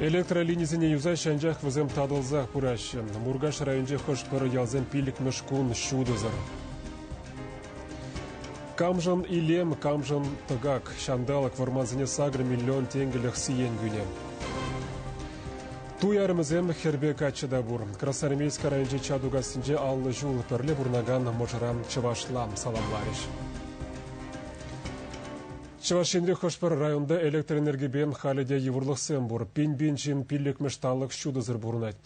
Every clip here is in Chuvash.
Электролинисене юсаҫҫӗ, анчах вӗсем татӑлсах пыраҫҫӗ. Муркаш районӗнчи хӑш-пӗр ялсем пиллӗкмӗш кун ҫутӑсӑр. Камшӑн илем, камшӑн тӑкак. Ҫанталӑк вӑрмансене сакӑр миллион тенкӗлӗх сиен кӳнӗ. Туй арӑмӗсем хӗрпе каччӑ та пур. Красноармейски районӗнчи Чатукассинче аллӑ ҫул пӗрле пурӑнакан мӑшӑран чӑвашла саламларӗҫ. Чӑваш Енри хӑш-пӗр районта электроэнергипе халӗ те йывӑрлӑхсем пур. Пин-пин ҫын пиллӗкмӗш талӑк ҫутӑсӑр пурӑнать.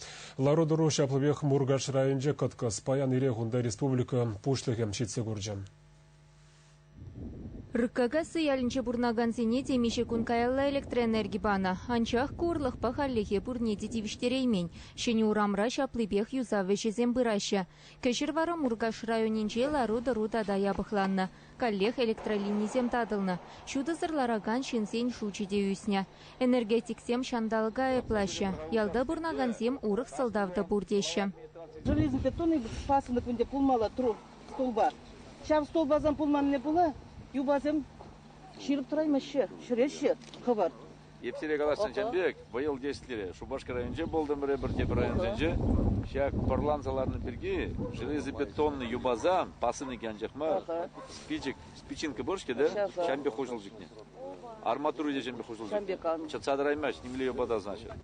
Лару-тӑру ҫаплипех Муркаш районӗнче кӑткӑс. Паян ирех унта республика Пуҫлӑхӗ ҫитсе курчӗ. Рыккакасси ялӗнче пурӑнакансене темиҫе кун каялла электроэнерги панӑ. Анчах ку ырлӑхпа хальлӗхе пурне те тивӗҫтереймен. Ҫӗнӗ урамра ҫаплипех юсав ӗҫӗсем пыраҫҫӗ. Кӗҫӗр вара Муркаш районӗнче лару-тӑру тата япӑхланнӑ. Каллех электролинисем татӑлнӑ, ҫутӑсӑр ларакан ҫынсен шучӗ те ӳснӗ. Энергетиксем ҫанталӑка айӑплаҫҫӗ, ялта пурӑнакансем урӑх сӑлтав та пур теҫҫӗ. Железобетонный пасынок ӗнтӗ пулмалла тру столба. Ҫав столбасан пулманни пулӗ, юпасем ҫирӗп тӑраймаҫҫӗ, ҫӗреҫҫӗ хӑвӑрт. Эп сире каласшӑн ҫын пек, вӑйӑл теҫлӗре Шупашкар районӗнче пултӑмӑр эпӗр тепӗр районсенче. Ҫак пӑрланса ларнӑ пирки железобетоннӑй юпасан пасӑннӑ анчах мар. Спичек, спичинка пур-ҫке те? Ҫавӑн пек хуҫӑл чикнӗ. Арматура те ҫавӑн пек хуҫӑл чикнӗ. Чӑтса тӑраймасть, нимле юпа та снаҫҫӗ.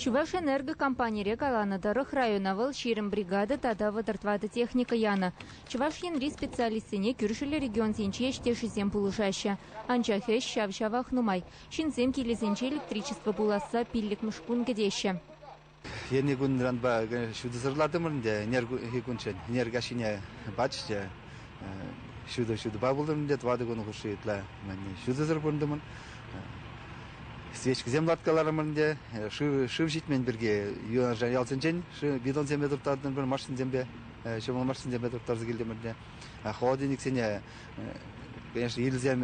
Чувашэнерго компанире каланӑ тӑрӑх, района вӑл ҫирӗм бригада тата вӑтӑр тӑватӑ техника янӑ. Чӑваш Енри специалистсене кӳршӗллӗ регионсенчи ӗҫтешӗсем пулӑшаҫҫӗ. Анчах ӗҫ ҫав-ҫавах нумай. Ҫынсем килӗсенче электричество пуласса пиллӗкмӗш кун кӗтеҫҫӗ. Енӗ кунранпа ҫутӑсӑрлатӑмӑр ӗнтӗ, ӗнер кунччен энерги ҫине пачӗҫ те ҫутӑ ҫутӑпа пултӑм те тӑватӑ кун хушши ытла ҫутӑсӑр пурӑнтӑмӑр. Свечкӑсем ларткаларӑмӑр ӗнтӗ шыв шыв ҫитмен пирки юнашар ялсенчен бидонсемпе турттартӑмӑр машинсемпе ҫӑмӑл машинсемпе турттарса килтӗмӗр те холодильниксене конечно ирӗлсем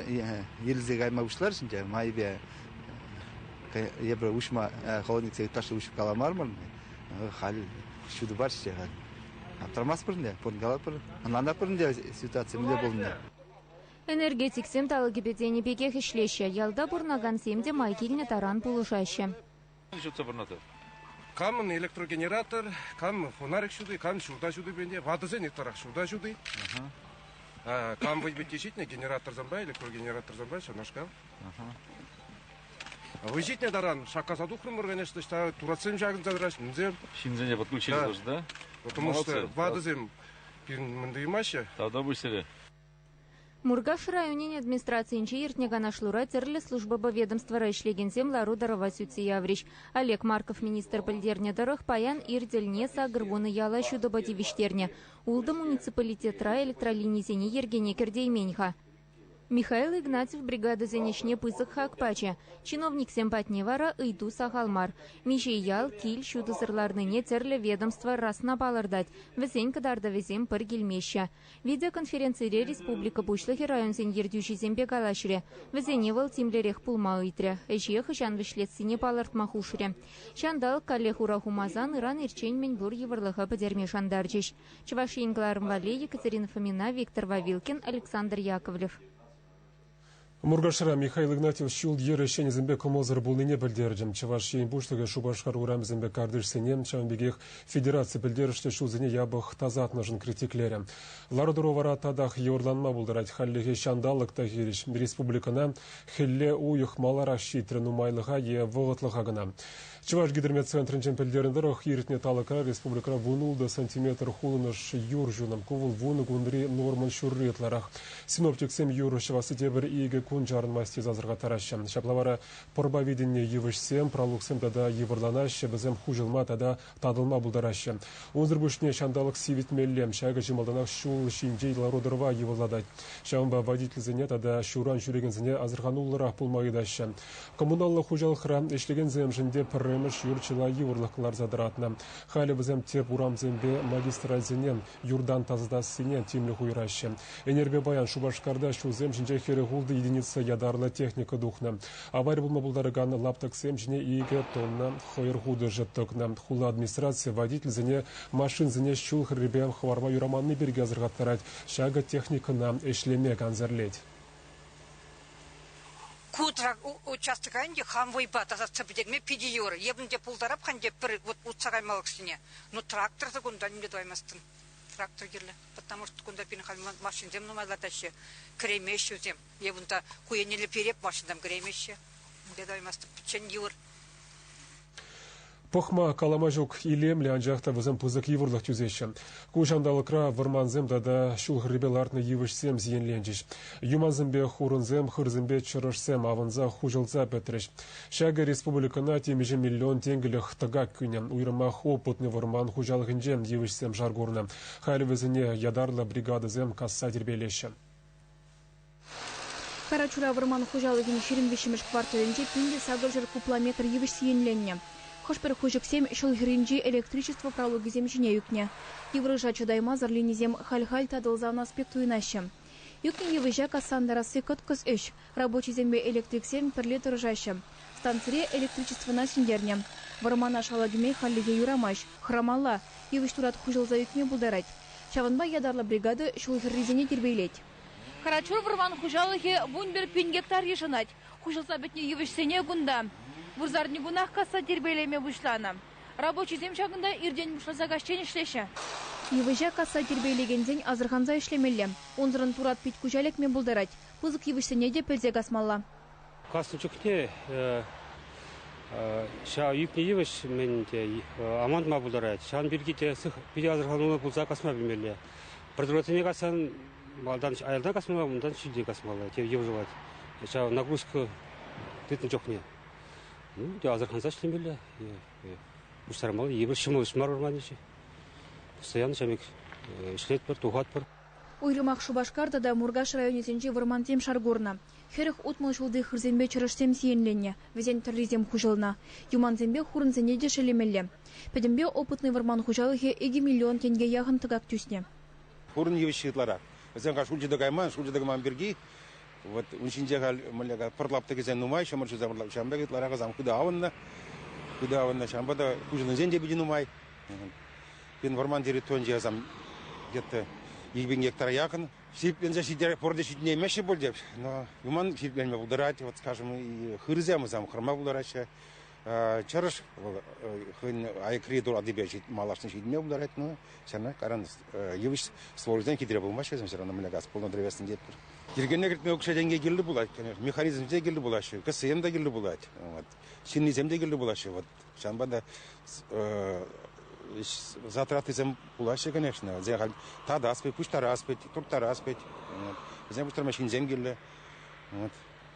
ирӗлсе кайма пуҫлар ӗнтӗ майӗпе эпир уҫма холодниксене ытлашши уҫып каламармӑр халь ҫутӑ парчӗ халь. Аптрамастпӑр ӗнтӗ, пурӑн калатпӑр. Ӑнланатпӑр ӗнтӗ ситуаци мӗнле пулнине. Энергетиксем талӑкӗпе тенӗ пекех ӗҫлеҫҫӗ. Ялта пурӑнакансем те май килнӗ таран пулӑшаҫҫӗ. Ҫутса пурӑнатӑп. Камӑн электрогенератор, кам фонарик ҫути, кам ҫурта ҫутипе те ватӑсен ытларах ҫурта ҫути. Кам вӑй питти ҫитнӗ генераторсемпе, электрогенераторсемпе ҫавнашкал. Вӑй ҫитнӗ таран шаккаса тухрӑмӑр, конечно, ӑҫта туратсем ҫакӑнса тӑраҫ, мӗнсем. Ҫынсене пӑтмулччӗ да. да? Потому что ватӑсем пирӗн мӗн туймаҫҫӗ. Тата пуҫсӗре. Муркаш районӗн администрацийӗнче иртнӗ канашлура тӗрлӗ службӑпа ведомствӑра ӗҫлекенсем лару-тӑрӑва сӳтсе яврӗҫ. Олег Марков министр пӗлтернӗ тӑрӑх, паян ир тӗлне сакӑр вунӑ яла ҫутӑпа тивӗҫтернӗ. Ултӑ муниципалитетра электролинисене йӗркене кӗртеймен-ха. Михаил Игнатьев бригадӑсен ӗҫне пысӑк хак пачӗ. Чиновниксем патне вара ыйту сахал мар. Миҫейял, кил ҫутӑсӑр ларнине тӗрлӗ ведомство расна палӑртать. Вӗсен кӑтартӑвӗсем пӗр килмеҫҫӗ. Видеоконференцире республика Пуҫлӑхӗ районсен ертӳҫисемпе калаҫрӗ. Вӗсене вӑл тимлӗрех пулма ыйтрӗ, ӗҫе хӑҫан вӗҫлессине палӑртма хушрӗ. Ҫанталӑк каллех ура хумасан ыран-ирччен мӗн пур йывӑрлӑха пӗтерме шантарчӗҫ. Чӑваш Ен кӑларӑм валли Екатерина Фомина, Виктор Вавилкин, Александр Яковлев. Муркашра Михаил Игнатьев ҫул-йӗр ӗҫченӗсемпе кӑмӑлсӑр пулнине пӗлтерчӗм. Чӑваш Ен Пуҫлӑхӗ Шупашкар урамӗсемпе картишсене, ҫавӑн пекех федераци пӗлтерӗшлӗ ҫулсене япӑх тасатнӑшӑн критиклерӗм. Лару-тӑру вара татах йывӑрланма пултарать. Хальлӗхе ҫанталӑк та хирӗҫ. Республикӑна хӗлле уйӑх маларах ҫитрӗ нумайлӑха е вӑхӑтлӑха кӑна. Чӑваш гидромет центрӗнчен пӗлтернӗ тӑрӑх, иртнӗ талӑкра республикӑра вун-ултӑ сантиметр хулӑнӑш юр ҫунӑ. Ку вӑл вунӑ кунри нормӑн ҫурри ытларах. Синоптиксем юр ҫӑвасси те пӗр икӗ кун чарӑнмасть тесе асӑрхаттараҫҫӗ. Ҫапла вара пӑрпа витӗннӗ йывӑҫсем, пралуксем тата йывӑрланаҫҫӗ, вӗсем хуҫӑлма тата татӑлма пултараҫҫӗ. Унсӑр пуҫне ҫанталӑк сивӗтмелле. Ҫакӑ чи малтанах ҫул ҫинчи лару-тӑрӑва йывӑрлатать. Ҫавӑнпа водительсене тата ҫуран ҫӳрекенсене асӑрхануллӑрах пулма ыйтаҫҫӗ. Коммуналлӑ хуҫалӑхра ӗҫлекенсемшӗн те пӗрремӗш юр чылай йывӑрлӑх кӑларса тӑратнӑ. Халӗ вӗсем тӗп урамсемпе магистральсене юртан тасатассине тимлӗх уйӑраҫҫӗ. Ӗнерпе паян Шупашкарта ҫулсем ҫинче хӗрӗх ултӑ единица ятарлӑ техника тухнӑ. Авари пулма пултаракан лаптӑксем ҫине икӗ тонна хӑйӑр хутӑшӗ тӑкнӑ. Хула администрацийӗ водительсене машинсене ҫул хӗррипе хӑварма юраманни пирки асӑрхаттарать, ҫакӑ техникӑна ӗҫлеме кансӗрлет. Ку участока ӗнтӗ хам вӑйпа тасатса пӗтерме питӗ йывӑр. Эпӗн те пултарап-ха ӗнтӗ пӗр утса кайма алӑксене. Ну трактор-та кунта нимле тӑваймастӑн. Трактор кирлӗ, потому что кунта пирӗн халь машинсем нумайлатаҫҫӗ, кӗремеҫҫӗ вӗсем. Эпӗ унта ку еннелле переп машинам кӗремеҫҫӗ. Унта тӑваймастӑп, пӗччен йывӑр. Пӑхма, калама ҫук илемлӗ, анчах та вӗсем пысӑк йывӑрлӑх тӳсеҫҫӗ. Ку ҫанталӑкра вӑрмансем тата ҫул хӗррипе лартнӑ йывӑҫсем сиенленчӗҫ. Юмансемпе хурӑнсем, хырсемпе чӑрӑшсем авӑнса, хуҫӑлса пӗтрӗҫ. Ҫакӑ республикӑна темиҫе миллион тенкӗлӗх тӑкак кӳнӗ. Уйрӑмах опытный вӑрман хуҫалӑхӗнче йывӑҫсем шар курнӑ. Халь вӗсене ятарлӑ бригадӑсем касса тирпейлеҫҫӗ. Карачура вӑрман хуҫалӑхӗн ҫирӗм виҫҫӗмӗш кварталӗнче пин те сакӑрҫӗр кубла метр йывӑҫ сиенленнӗ. Хӑш-пӗр хуҫӑксем ҫул хӗрринчи электричество пралукӗсем ҫине ӳкнӗ. Йывӑҫа чӑтаймасӑр линисем халь-халь татӑлса анас пек туйӑнаҫҫӗ. Ӳкнӗ йывӑҫа касса антарасси кӑткӑс ӗҫ. Рабочисемпе электриксем пӗрле тӑрӑшаҫҫӗ. Станцире электричествӑна сӳнтернӗ. Вӑрмана шала кӗме хальлӗхе юрамасть, хӑрамалла. Йывӑҫ турат хуҫӑлса ӳкме пултарать. Ҫавӑнпа ятарлӑ бригада ҫул хӗррисене тирпейлет. Карачур вӑрман хуҫалӑхӗ вунпӗр пин гектар йышӑнать. Хуҫӑлса пӗтнӗ йывӑҫсене кунта вырсарникунах касса тирпейлеме пуҫланӑ. Рабочисем ҫакӑнта иртен пуҫласа каҫчен ӗҫлеҫҫӗ. Йывӑҫа касса тирпейлекенсен асӑрханса ӗҫлемелле. Унсӑрӑн турат пит-куҫа лекме пултарать. Пысӑк йывӑҫсене те пӗлсе касмалла. Каснӑ чухне ҫав ӳкнӗ йывӑҫ мӗн те амантма пултарать. Ҫавӑн пирки те питӗ асӑрхануллӑ пулса касма пӗлмелле. Придуроксене кассан малтан аялта касмалла, унтан ҫӳлте касмалла. Те йывӑрлать ҫав нагрузка тытнӑ чухне. Ну, те асӑрханса ӗҫлемелле. Пуҫтармалла йывӑр ҫӑмӑл ӗҫ мар вырманӗҫи. Постоянно ҫамек ӗҫлетпӗр, тухатпӑр. Уйрӑмах Шупашкар тата Муркаш районӗсенчи вӑрмансем шар курнӑ. Хӗрӗх утмӑл ҫулти хырсемпе чӑрӑшсем сиенленнӗ, вӗсен тӑррисем хуҫӑлнӑ. Юмансемпе хурӑнсене те шеллемелле. Пӗтӗмпе Опытный вӑрман хуҫалӑхӗ икӗ миллион тенке яхӑн тӑкак тӳснӗ. Пурӑн йывӑҫҫи ытларах. Вӗсем-ха шулчӗ те кайман, шулчӗ те кӑман пирки. Вот ун ҫинче халь мӗнле пӑр лаптӑкӗсем нумай, ҫӑмӑл ҫуса пӑрлак. Ҫавӑн пек ытларах вӗсем хытӑ авӑннӑ. Хытӑ авӑннӑ. Ҫавӑнпа та хуҫӑннисен те питӗ нумай. Пирӗн вӑрман территорийӗнче, сан, где-то 20 гектара якын Сипленсе ҫитерек пурте ҫитӗнеймеҫҫӗ пуль те, но юман сипленме пултарать, вот скажем, и хырсем сам хырма пултараҫҫӗ. Чӑрӑш хӑйӗн айкри туратипе малашне ҫитме пултарать, но все равно каран йывӑҫ сложисем хитре пулмаҫҫӗ, все равно мӗнле газ полнӑ древесный детпур. Йӗркене кӗртме укҫа-тенке кирлӗ пулать, конечно, механизмсем те кирлӗ пулаҫҫӗ, КСМ та кирлӗ пулать, вот, ҫыннисем те кирлӗ пулаҫҫӗ, вот Ҫавӑнпа та затратисем пулаҫҫӗ, конечно. Вӗсем халь татас пек, пуҫтарас пек, турттарас пек. Вӗсем пуҫтарма ҫынсем кирлӗ.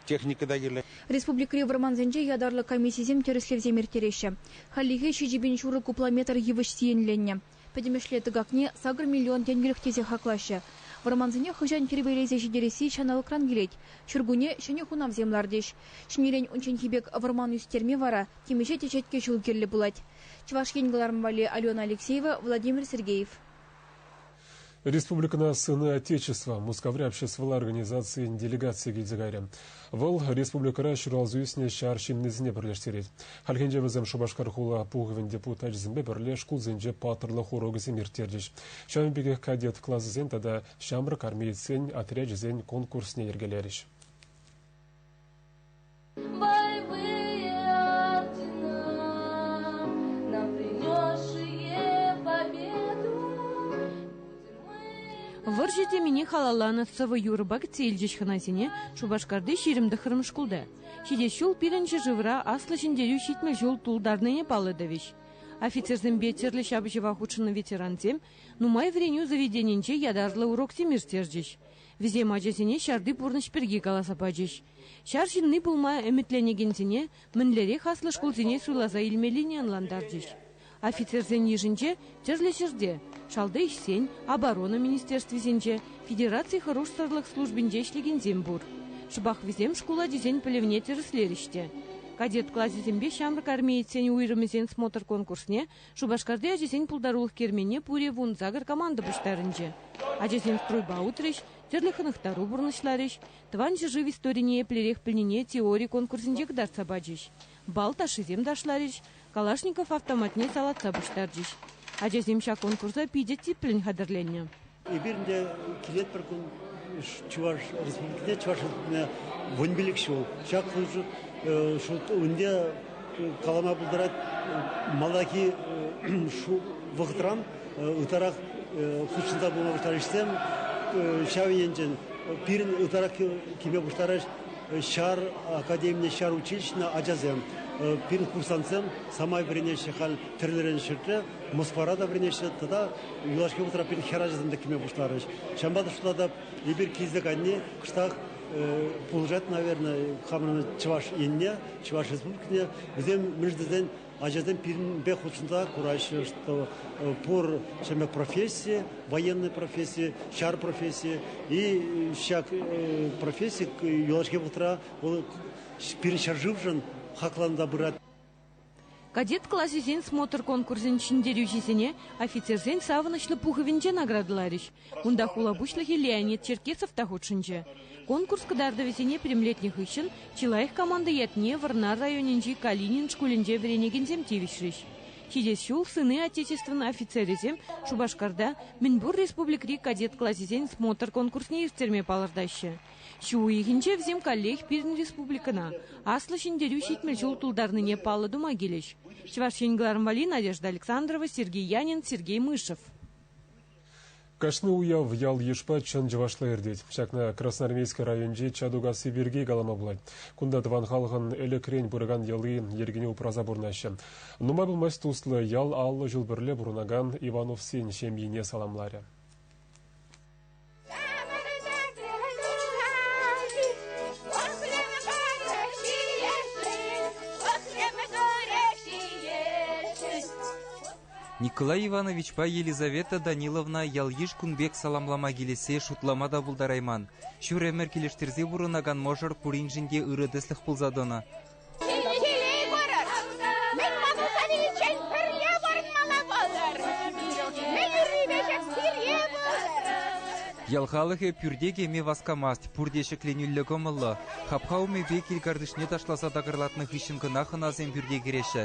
Техника та кирлӗ. Республикӑри вӑрмансенче ятарлӑ комиссисем тӗрӗслевсем ирттереҫҫӗ. Хальлӗхе ҫичӗ пин ҫурӑ кубла метр йывӑҫ сиенленнӗ. Пӗтӗмӗшле тӑкакне сакӑр миллион тенкӗлӗх тесе хаклаҫҫӗ. Вӑрмансене хӑҫан тирпейлесе ҫитересси ҫанталӑкран килет. Ҫуркунне ҫӗнӗ хунавсем лартӗҫ. Ҫӗнӗрен унчченхи пек вӑрман ӳстерме вара темиҫе теҫетке ҫул кирлӗ пулать. Чӑваш Ен кӑларӑм валли Алена Алексеева, Владимир Сергеев. Республикӑна Сыны Отечества Мускаври обществӑлла организацийӗн делегацийӗ килсе кайрӗ. Вӑл республикӑра ҫуралса ӳснӗ ҫар ҫыннисене пӗрлештерет. Хальхинче вӗсем Шупашкар хула пухӑвӗн депутачӗсемпе пӗрле шкулсенче паттӑрлӑх урокӗсем ирттерчӗҫ. Ҫавӑн пекех кадет класӗсен тата ҫамрӑк армеецсен отрячӗсен конкурсне йӗркелерӗҫ. Вӑрҫӑ темине халалланӑ сӑвӑ юрӑпа кӗтсе илчӗҫ хӑнасене Шупашкарти ҫирӗм тӑххӑрмӗш шкулта. ҫитес ҫул пирӗн ҫӗршывра Аслӑ Ҫӗнтерӳ ҫитмӗл ҫул тултарнине паллӑ тӑвӗҫ. Офицерсемпе тӗрлӗ ҫапӑҫӑва хутшӑннӑ ветерансем нумай вӗренӳ заведенинче ятарлӑ уроксем ирттерчӗҫ. Вӗсем ачасене ҫарти пурнӑҫ пирки каласа пачӗҫ, Ҫар ҫынни пулма ӗмӗтленекенсене мӗнлерех аслӑ шкулсене суйласа илмеллине ӑнлантарчӗҫ. Офицерсен йышӗнче тӗрлӗ ҫӗрте, шалти ӗҫсен, оборона министерствисенче, федераци хӑрушсӑрлӑх службинче ӗҫлекенсем пур. Шӑпах вӗсем шкул ачисен пӗлӗвне тӗрӗслерӗҫ те. Кадет класӗсемпе ҫамрӑк армеецсен уйрӑмӗсен смотр-конкурсне Шупашкарти ачасен пултарулӑх керменне пурӗ вун сакӑр команда пуҫтарӑнчӗ. Ачасем стройпа утрӗҫ, тӗрлӗ хӑнӑхтару пурнӑҫларӗҫ, Тӑван ҫӗршыв историне еплерех пӗлнине теори конкурсӗнче кӑтартса пачӗҫ. Бал ташшисем ташларӗҫ, Калашников автоматне салатса пуҫтарчӗҫ. Ачасем ҫак конкурса питӗ типлӗн хатӗрленнӗ. Эпир ӗнтӗ килет пӗр кун Чӑваш Республикине, Чӑваш Республикине вун пилӗк ҫул. Ҫак ҫул ӗнтӗ калама пултарать малтанхи шул вӑхӑтран ытларах хутшӑнса пыма пуҫларӗҫсем ҫав енчен пирӗн ытларах килме пуҫларӗҫ ҫар академине ҫар училищине ачасем пирӗн курсантсем самай вӗренеҫҫӗ халь тӗрлӗрен ҫӗрте Москвара та вӗренеҫҫӗ тата юлашки вӑхӑтра пирӗн хӗр ачасем те килме пуҫларӗҫ ҫавӑнпа та шута та эпир килсе кайни кӑштах пулӑшать наверное хамӑрӑн чӑваш енне Чӑваш Республикине вӗсем мӗш тесен ачасем пирӗнпе хутшӑнса кураҫҫӗ, что пур ҫӗмӗк професси, военный професси, ҫар професси и ҫак професси юлашки вӑхӑтра вӑл пирӗн ҫӗршывшӑн хакланса пырать. Кадет класӗсен смотр конкурсӗн ҫӗнтерӳҫисене офицерсен савӑнӑҫлӑ пухӑвӗнче наградӑларӗҫ. Унта хула пуҫлӑхӗ Леонид Черкесов та хутшӑнчӗ. Конкурс кӑтартӑвӗсене пӗтӗмлетнӗ хыҫҫӑн чи лайӑх команда ятне Вӑрнар районӗнчи Калинин шкулӗнче вӗренекенсем тивӗҫрӗҫ. Ҫитес ҫул Сыны Отечествӑн офицерӗсем Шупашкарта мӗнпур республикӑри кадет класӗсен смотр-конкурсне ирттерме палӑртаҫҫӗ. Ҫу уйӑхӗнче вӗсем каллех пирӗн республикӑна Аслӑ Ҫӗнтерӳ ҫитмӗл ҫул тултарнине паллӑ тума килӗҫ. Чӑваш Ен кӑларӑмпа Надежда Александрова, Сергей Янин, Сергей Мышев. Кашни уяв ял-йышпа чӑн чӑвашла иртет. Ҫакна Красноармейски районӗнчи Чатукасси пирки калама пулать. Кунта тӑван халӑхӑн ӗлӗкрен пыракан йӑли, йӗркине упраса пурӑнаҫҫӗ. Нумай пулмасть туслӑ ял аллӑ ҫул пӗрле пурӑнакан Ивановсен ҫемйине саламларӗ. Николай Ивановичпа Елизавета Даниловна ял-йыш кун пек саламлама килессе шутлама та пултарайман. Ҫур ӗмӗр килӗштерсе пурӑнакан мӑшӑр пуриншӗн те ырӑ тӗслӗх пулса тӑнӑ. Киле пырӑр! Мӗн пулса виличчен пӗрле пурӑнмалла пултӑр! Мӗн ӳррипе пире пултӑр! Ял халӑхӗ пӳрте кӗме васкамасть, пурте ҫӗкленӳллӗ кӑмӑллӑ. Хапха умӗпе кил картишне ташласа такӑрлатнӑ хыҫҫӑн кӑна хӑнасем пӳрте кӗреҫҫӗ.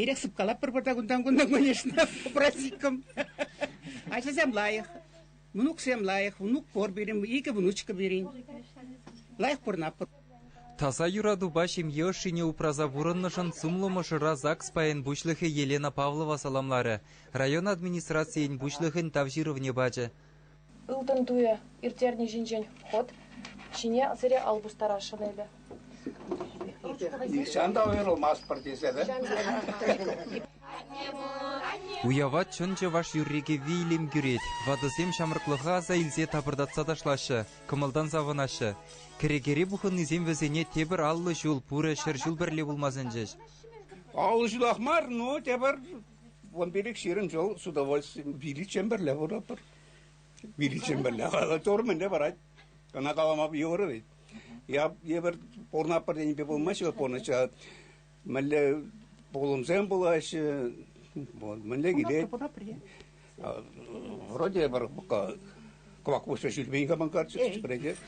Эрех сыпкалатпӑр пӑртак унтан-кунтан, конечно, попросиккӑм. Ачасем лайӑх, мӑнуксем лайӑх, внук пор пирӗн, икӗ внучка пирӗн. Лайӑх пурӑнатпӑр. Таса юратупа ҫемье ӑшшине упраса пурӑннӑшӑн сумлӑ мӑшӑра ЗАГС пайӗн пуҫлӑхӗ Елена Павлова саламларӗ, район администрацийӗн пуҫлӑхӗн Тав ҫырӑвне пачӗ. Ылтӑн туйӗ ирттерни ҫинчен ход ҫине сире ал пустарасшӑн эпӗ. Нихҫан та уйрӑлмастпӑр тесессӗн. Уява чӑн чӑваш юрри-кӗвви илем кӳрет. Ватӑсем ҫамрӑклӑха аса илсе тапӑртатса ташлаҫҫӗ, кӑмӑлтан савӑнаҫҫӗ. Кӗрекере пухӑннисем вӗсене тепӗр аллӑ ҫул, пурӗ ҫӗр ҫул пӗрле пулма сӗнчӗҫ. Аллӑ ҫулах мар, ну тепӗр Вун пилӗк ҫирӗм ҫул с удовольствием виличчен пӗрле пурӑпӑр. Виличчен пӗрле. Тор мӗнле парать? Ӑна калама йывӑр вӗт. Я эпир пурӑнатпӑр тенипе пулмаҫҫӗ пурнӑҫа. Мӗнле пулӑмсем пулаҫҫӗ, вот, мӗнле килет. Вроде пока кӑвак пуҫҫа ҫитмен кӑмӑлкарчӗ, вӗренет.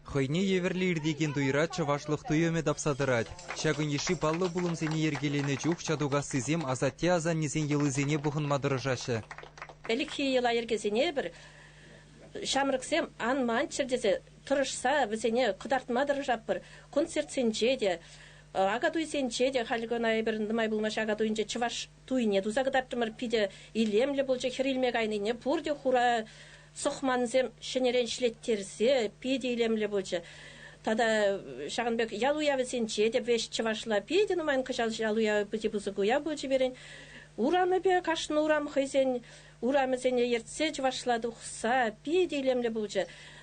Хӑйне евӗрлӗ иртекен туйра чӑвашлӑх туйӑмӗ тапса тӑрать. Ҫакӑн йышши паллӑ пулӑмсене йӗркеленӗ чух Ҫатукассисем асатте-асаннесен йӑлисене пухӑнма тӑрӑшаҫҫӗ. Ӗлӗкхи йӑла-йӗркесене эпир ҫамрӑксем ан манччӑр тесе тӑрӑшса вӗсене кӑтартма тӑрӑшатпӑр. Концертсенче те, Акатуйсенче те халь кӑна эпир нумай пулмасть Акатуйӗнче чӑваш туйне туса кӑтартрӑмӑр. Питӗ илемлӗ пулчӗ хӗр илме кайнине. Пурте хура сӑхмансем ҫӗнӗрен ӗҫлеттерсе питӗ илемлӗ пулчӗ. Тата ҫакӑн пек ял уявӗсенче те веҫ чӑвашла питӗ нумай кӑҫал ял уявӗ питӗ пысӑк уяв пулчӗ пирӗн. Урамӗпе кашни урам хӑйсен урамӗсене ертсе чӑвашла тухса питӗ илемлӗ пулчӗ.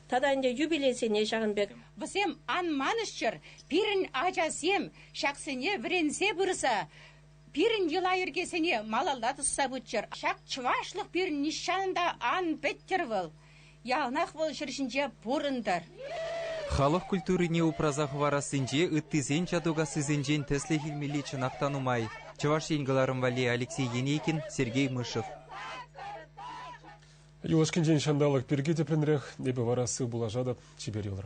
Тата ӗнтӗ юбилейсене ҫакӑн пек. Вӗсем ан манӑҫчӑр, пирӗн ачасем ҫаксене вӗренсе пырса пирӗн йӑла-йӗркесене малалла тӑсса пыччӑр. Ҫак чӑвашлӑх пирӗн нихҫан та ан пӗттӗр вӑл. Яланах вӑл ҫӗр ҫинче пурӑнтӑр. Халӑх культурине упраса хӑварассинче ыттисен чатукассисенчен тӗслӗх илмелли чӑнах та нумай. Чӑваш Ен кӑларӑм валли Алексей Енейкин, Сергей Мышев. Юлашкинчен ҫанталӑк пирки тӗплӗнрех эпӗ вара сыв пулашатӑп. Чипер юлӑр.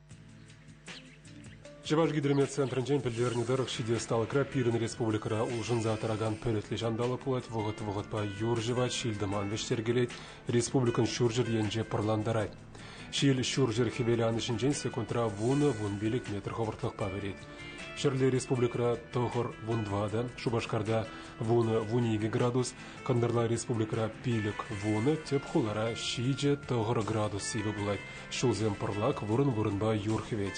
Чӑваш гидрометцентрӗнчен пӗлтернӗ тӑрӑх, ҫити ӑсталӑхра пирӗн республикӑра улшӑнса тӑракан пӗлӗтлӗ ҫанталӑк пулать. Вӑхӑт-вӑхӑтпа юр-ҫӑвать, ҫил-тӑман вӗҫтеркелет, республикӑн ҫурҫӗр енче пӑрлантарать. Ҫил ҫурҫӗр-хӗвел анӑҫӗнчен секундра вунӑ-вун пилӗк метр хӑвӑртлӑхпа вӗрет. Ҫӗрле республикӑра тӑхӑр, вун тӑватӑ, Шупашкарта вунӑ-вун икӗ градус, Кӑнтӑрла республикӑра пилӗк, вунӑ, тӗп хулара ҫичӗ тӑхӑр градус сивӗ пулать. Ҫулсем пӑрлак вырӑн-вырӑнпа юр хӗвет.